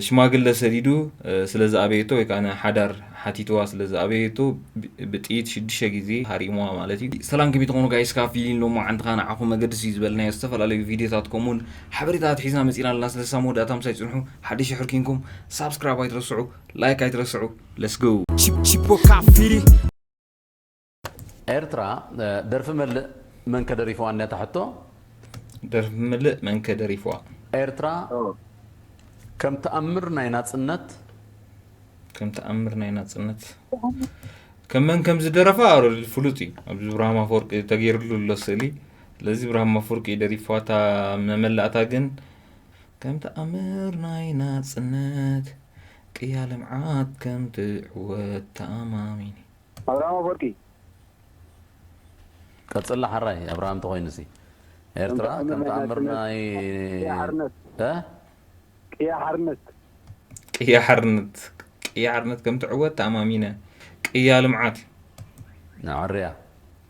ሽማግለ ሰዲዱ ስለ ዝኣበየቶ ወይ ከኣ ንሓዳር ሓቲትዋ ስለ ዝኣበየቶ ብጥይት ሽዱሽተ ግዜ ሃሪምዋ ማለት እዩ። ሰላም ከመይ ትኾኑ ጋይስ ካብ ፊሊን ሎማዓንትኻ ንዓኹም መገድስ እዩ ዝበልናዮ ዝተፈላለዩ ቪድዮታት ከምኡውን ሓበሬታ ኣትሒዝና መጺና ኣለና ስለዚ ሳብ መወዳእታ ምሳይ ጽንሑ ሓደሽቲ ሕር ኪንኩም ሳብስክራይብ ኣይትረስዑ ላይክ ኣይትረስዑ let's go Chip, chip, o cafiri. ኤርትራ ደርፊ መልእ መንከ ደሪፍዋ ነታ ሕቶ? ደርፊ ምልእ መንከ ደሪፍዋ? ኤርትራ ከም ተኣምር ናይ ናጽነት። ከም ተኣምር ናይ ናጽነት ከም መን ከም ዝደረፋ ኣረዲ ፍሉጥ እዩ ኣብዚ ብርሃም ኣፈወርቂ ተገይርሉ ኣሎ ስእሊ ስለዚ ብርሃም ኣፈወርቂ እዩ ደሪፍዋ እታ መመላእታ ግን ከም ተኣምር ናይ ናጽነት ቅያ ልምዓት ከም ትዕወት ተኣማሚኒ ኣብርሃም ኣፎርቂ። ቀጽላ ሐራይ ኣብርሃም ተኾይኑሲ ኤርትራ ከም ተኣምር ናይ እ ቅያ ሓርነት ቅያ ሓርነት ቅያ ሓርነት ከም ትዕወት ተኣማሚነ ቅያ ልምዓት እዩ። ንዕርያ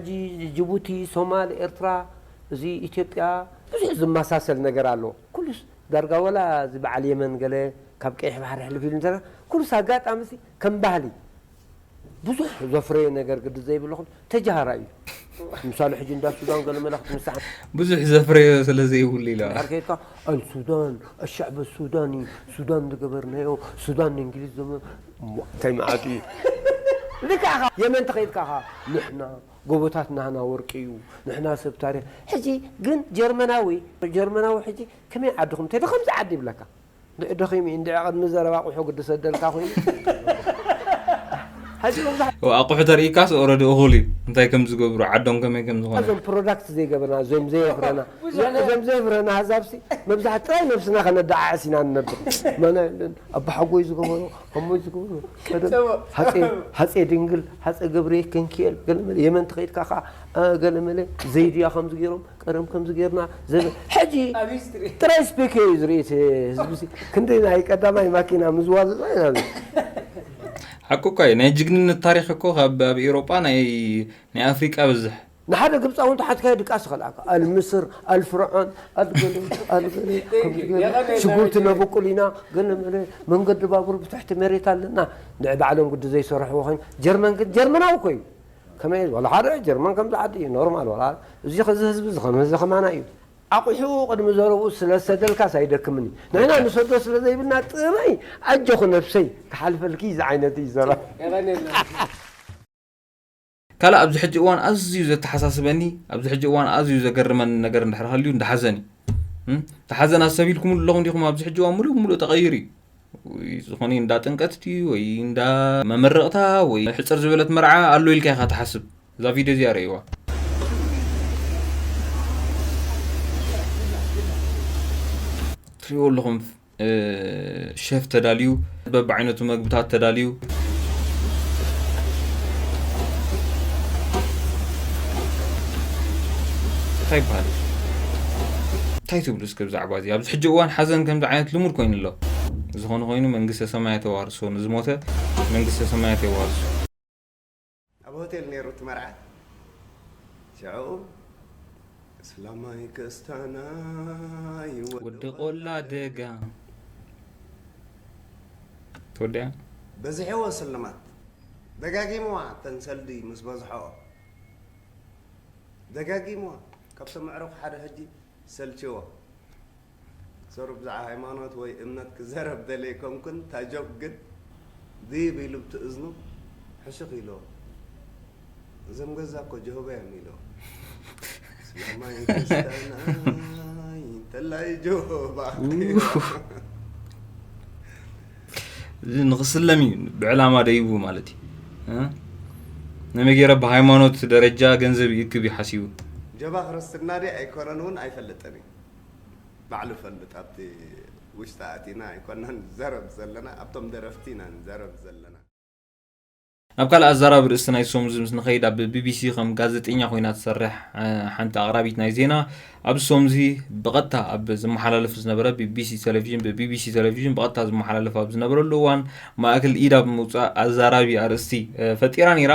ሕጂ ጅቡቲ ሶማል ኤርትራ እዚ ኢትዮጵያ ብዙሕ ዝመሳሰል ነገር ኣሎ ኩሉስ ዳርጋ ወላ እዚ በዓል የመን ገለ ካብ ቀይሕ ባሕሪ ሕልፍ ኢሉ እንተ ኩሉስ ኣጋጣሚ ሲ ከም ባህሊ ብዙሕ ዘፍረዮ ነገር ግዲ ዘይብልኩም ተጃሃራ እዩ ምሳሌ ሕጂ እንዳ ሱዳን ገለ መለ ክትምስሓ ብዙሕ ዘፍረዮ ስለ ዘይብሉ ኢለ እንድሕር ከይድካ ኣልሱዳን ኣሻዕበ ሱዳኒ ሱዳን ዝገበርናዮ ሱዳን ንእንግሊዝ ዘመ እንታይ መዓት እዩ ልክዕ ኢኻ የመን ተኸይድካ ከኣ ንሕና ጎቦታት ናህና ወርቂ እዩ ንሕና ሰብ ታሪኽ ሕጂ ግን ጀርመናዊ ጀርመናዊ ሕጂ ከመይ ዓድኹም እንተ ከምዚ ዓዲ ይብለካ እንድዒ ደኺሙ እዩ እንድዒ ቅድሚ ዘረባ ኣቑሑ ግድሰደልካ ኮይኑ ሕጂ መብዛሕ ኣቑሑ ተርእይካስ ኦረዲ እኹል እዩ እንታይ ከም ዝገብሩ ዓዶም ከመይ ከም ዝኾነ እዞም ፕሮዳክት ዘይገበና እዞም ዘየፍረና እዞም ዘየፍረና ኣዛብሲ መብዛሕት ጥራይ ነብስና ከነደዓዕስ ኢና ንነብር ኣባሓጎይ ዝገበሮ ኣሞይ ዝገበሮ ሃፀይ ድንግል ሃፀይ ገብርኤል ክንኪኤል ገለመለ የመን ተኸይድካ ከዓ ገለመለ ዘይድያ ከምዚ ገይሮም ቀደም ከምዚ ገይርና ዘበ ሕጂ ጥራይ ስፔክ እዩ ዝርኢ ህዝቢ ክንደይ ናይ ቀዳማይ ማኪና ምዝዋዘዛ ኢና ሓቁ እኳ እዩ ናይ ጅግንነት ታሪክ እኮ ካብ ኣብ ኤሮጳ ናይ ኣፍሪቃ ብዝሕ ንሓደ ግብጻዊ እንተ ሓትካዮ ድቃስ ይኸልኣካ ኣልምስር ኣልፍርዖን ኣልገለ ኣልገለ ከምዚ ገለ ሽጉርቲ ነብቁል ኢና ገለ መለ መንገዲ ባቡር ብትሕቲ መሬት ኣለና ንዕ ባዕሎም ግዲ ዘይሰርሕዎ ኮይኑ ጀርመን ግን ጀርመናዊ እኮ እዩ ከመይ እዩ ዋላ ሓደ ጀርመን ከምዚ ዓዲ እዩ ኖርማል ዋላ እዚ እዚ ህዝቢ እዚ ከም እዚ ከማና እዩ ኣቑሑኡ ቅድሚ ዘረብኡ ስለ ዝሰደልካስ ኣይደክምን እዩ ንሕና ንሰዶ ስለ ዘይብልና ጥራይ ኣጆኺ ነብሰይ ክሓልፈልኪ ዝዓይነት'ዩ ዘረባ። የቐኔልና። ካልእ ኣብዚ ሕጂ እዋን ኣዝዩ ዘተሓሳስበኒ ኣብዚ ሕጂ እዋን ኣዝዩ ዘገርመኒ ነገር እንድሕር ሃልዩ እንዳ ሓዘን እዩ እቲ ሓዘን ኣሰቢልኩም ኣለኹም ዲኹም ኣብዚ ሕጂ እዋን ሙሉእ ሙሉእ ተቐይሩ እዩ ዝኾነ እንዳ ጥንቀት ድዩ ወይ እንዳ መመረቕታ ወይ ሕፅር ዝበለት መርዓ ኣሎ ኢልካ ኢኻ ትሓስብ እዛ ቪድዮ እዚኣ ረእይዋ ትሪእዎ ኣለኹም ሸፍ ተዳልዩ በብዓይነቱ መግብታት ተዳልዩ እንታይ ይበሃል እንታይ ትብሉ እስከ ብዛዕባ እዚ ኣብዚ ሕጂ እዋን ሓዘን ከምዚ ዓይነት ልሙድ ኮይኑ ኣሎ ዝኾነ ኮይኑ መንግስተ ሰማያት የዋርሶ ንዝሞተ መንግስተ ሰማያት የዋርሶ ኣብ ሆቴል ነይሩ እቲ መርዓ ሽዕኡ እስላማይ ክስታናይ ወዲ ቆላ ደጋ ትወድያ በዚሕዎ ስልማት ደጋጊምዋ እተን ሰልዲ ምስ በዝሖኦ ደጋጊምዋ ካብቶም ኣዕሩኽ ሓደ ሕጂ ሰልችዎ ሰሩ ብዛዕባ ሃይማኖት ወይ እምነት ክዘረብ ደልየ ኣይኮንኩን እታ ጆክ ግን ድይብ ኢሉ ብቲ እዝኑ ሕሹኽ ኢልዎ እዞም ገዛ እኮ ጀሆባ እዮም ኢልዎ እስላማይ ክርስታናይ እንተላይ ጀሆባ እዚ ንክስለም እዩ ብዕላማ ደይቡ ማለት እዩ እ? ነመይ ገይረ ብሃይማኖት ደረጃ ገንዘብ ይእክብ እዩ ሓሲቡ ጀባ ክርስትና ድየ ኣይኮነን እውን ኣይፈልጥን እዩ ባዕሉ ፈልጥ ኣብቲ ውሽጢ ኣቲና ኣይኮናን ንዛረብ ዘለና ኣብቶም ደረፍቲ ኢና ንዛረብ ዘለና። ናብ ካልእ ኣዛራቢ ርእስቲ ናይዚ ሰሙንዚ ምስ ንኸይድ ኣብ ቢቢሲ ከም ጋዘጤኛ ኮይና ትሰርሕ ሓንቲ ኣቕራቢት ናይ ዜና ኣብዚ ሰሙንዚ ብቐጥታ ኣብ ዝመሓላለፍ ዝነበረ ቢቢሲ ቴሌቪዥን ብቢቢሲ ቴሌቪዥን ብቐጥታ ዝመሓላለፍ ኣብ ዝነበረሉ እዋን ማእክል ኢድ ኣብ ምውጻእ ኣዛራቢ ኣርእስቲ ፈጢራ ነይራ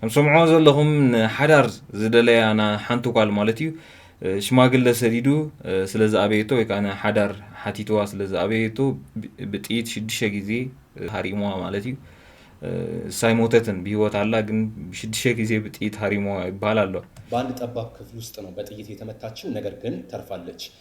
ከም ሰምዕዋ ዘለኹም ንሓዳር ዝደለያ ና ሓንቲ ጓል ማለት እዩ ሽማግለ ሰዲዱ ስለ ዝኣበየቶ ወይ ከዓ ንሓዳር ሓቲትዋ ስለ ዝኣበየቶ ብጥይት ሽዱሽተ ግዜ ሃሪምዋ ማለት እዩ እሳ ኣይሞተትን ብሂወት ኣላ ግን ብሽዱሽተ ግዜ ብጥይት ሃሪምዋ ይበሃል ኣሎ። በአንድ ጠባብ ክፍል ውስጥ ነው በጥይት የተመታችው ነገር ግን ተርፋለች።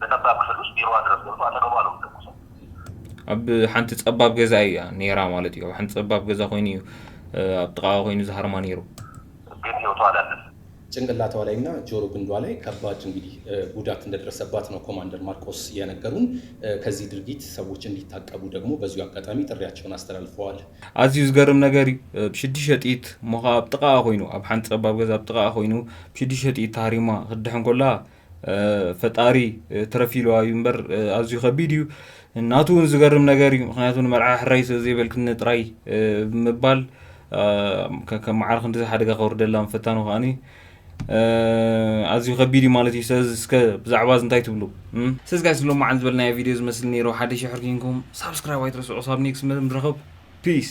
ብጠባብ ክፍሉስ ቢሮዋ ድረስ ገብቶ ኣጠገቡ ኣሎ ምተኩሶ። ኣብ ሓንቲ ጸባብ ገዛ ኢያ ኔራ ማለት ኢዩ። ኣብ ሓንቲ ጸባብ ገዛ ኮይኑ ኢዩ ኣብ ጥቓኣ ኮይኑ ዝሃርማ ኔሩ። ግን ህይወቱ ኣላለፈ። ጭንቅላቷ ላይ እና ጆሮ ግንዷ ላይ ከባድ እንግዲህ ጉዳት እንደደረሰባት ነው ኮማንደር ማርቆስ የነገሩን። ከዚህ ድርጊት ሰዎች እንዲታቀቡ ደግሞ በዚሁ አጋጣሚ ጥሪያቸውን አስተላልፈዋል። ኣዝዩ ዝገርም ነገር እዩ ብሽድሽተ ጥይት እሞ ከኣ ኣብ ጥቓኣ ኮይኑ ኣብ ሓንቲ ጸባብ ገዛ ኣብ ጥቓኣ ኮይኑ ብሽድሽተ ጥይት ተሃሪማ ክትድሕን ኮላ ፈጣሪ ትረፍ ኢልዋ እዩ እምበር ኣዝዩ ከቢድ እዩ ናቱ እውን ዝገርም ነገር እዩ ምክንያቱ ንመርዓ ሕራይ ስለ ዘይበልክኒ ጥራይ ብምባል ከም መዓር ክንዲዚ ሓደጋ ከውርደላ ምፈታኑ ከዓኒ ኣዝዩ ከቢድ እዩ ማለት እዩ ስለዚ እስከ ብዛዕባ እዚ እንታይ ትብሉ ስለዚ ጋይስ ሎማዓንቲ ዝበልናዮ ቪድዮ ዝመስል ነይሩ ሓደ ሽሕር ኪንኩም ሳብስክራይብ ኣይትረስዑ ሳብ ኔክስ ምርኸብ ፒስ